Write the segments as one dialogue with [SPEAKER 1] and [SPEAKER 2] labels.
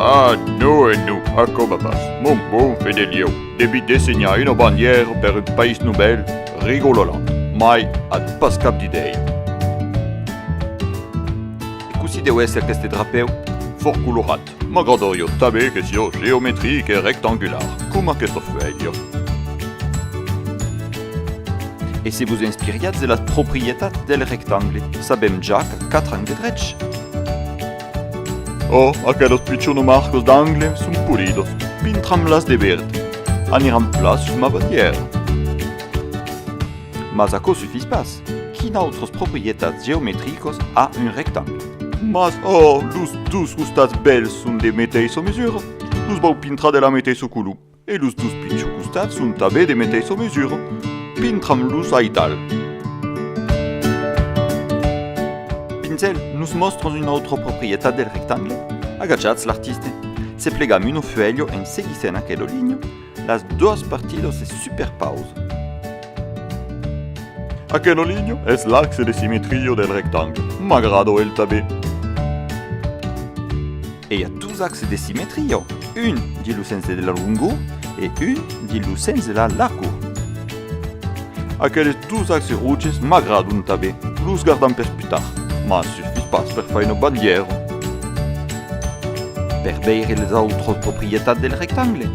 [SPEAKER 1] Ah, non e non, acoma pas, mon bon Fedelieu, devi dessenhar una bandièra per un país novèl, rigololant, mai at pas cap d'idèia.
[SPEAKER 2] E cossí deu èsser aqueste drapèu? Fòrt colorat.
[SPEAKER 1] M'agrada jo tanben que siá geometric e rectangular, coma aquesta fuèlha.
[SPEAKER 2] E se vos inspiriatz de las proprietats del rectangle, sabèm ja que quatre angles drechs.
[SPEAKER 1] Ò, aquelas pichonas marcas d'angle son polidas, pintram-las de verd, aniran plan sus ma bandièra.
[SPEAKER 2] Mas aquò sufís pas. Quinautres proprietats geometricas a un rectangle? Mas oh,
[SPEAKER 1] los dus costats bèls son de meteissa mesura, los vau pintra de la meteissa color, e los dus pichons costats son tanben de meteissa mesura, pintram-los aital.
[SPEAKER 2] Pincèl, nos mòstras una autra proprietat del rectangle? Agachatz, l'artiste se plegam una fuèlha en seguissent aquela linha, Las doas partidas se superpausan.
[SPEAKER 1] Aquela linha es l'axe de simetria del rectangle. M'agrada el tabé.
[SPEAKER 2] E i a dos axes de simetria, un dins lo sens de la longor e un dins lo sens de la largor. Aqueles
[SPEAKER 1] dus axes rouges m'agradon tanben, los gardam per pus tard, mas suffís pas per far una bandièra.
[SPEAKER 2] Per veire les autras proprietats del rectangle.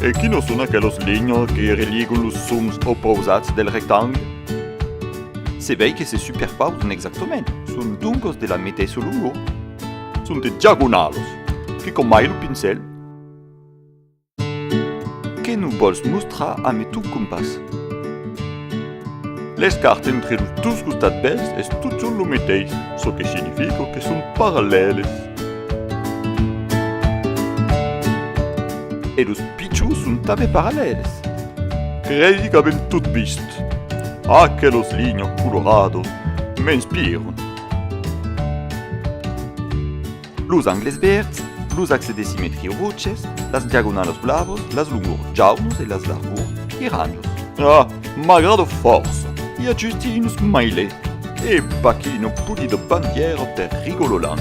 [SPEAKER 1] E quinas son aquelas linhas que religan los sons opausats del rectangle?
[SPEAKER 2] Se vei que se superpausan exactament, son doncas de la meteissa longor. Son de
[SPEAKER 1] diagonalas, que camai lo pincèl.
[SPEAKER 2] Que nous vòls mostrar ame ton compàs?
[SPEAKER 1] Les cartes entre los dos costats bèls es totjorn lo meteis, çò que significa que son parallèles.
[SPEAKER 2] E los pichons son tanben parallèles. Credi
[SPEAKER 1] qu'avèm tot vist. Aquelas linhas coloradas m'inspiran.
[SPEAKER 2] Los angles vèrds, los axes de simetria roches, las diagonalas blavas, las longors jaunas e las largors piranhas. Ah,
[SPEAKER 1] m'agrada fòrça! I a just un smiley! E pas que no pudi de bandièra per Rigololand!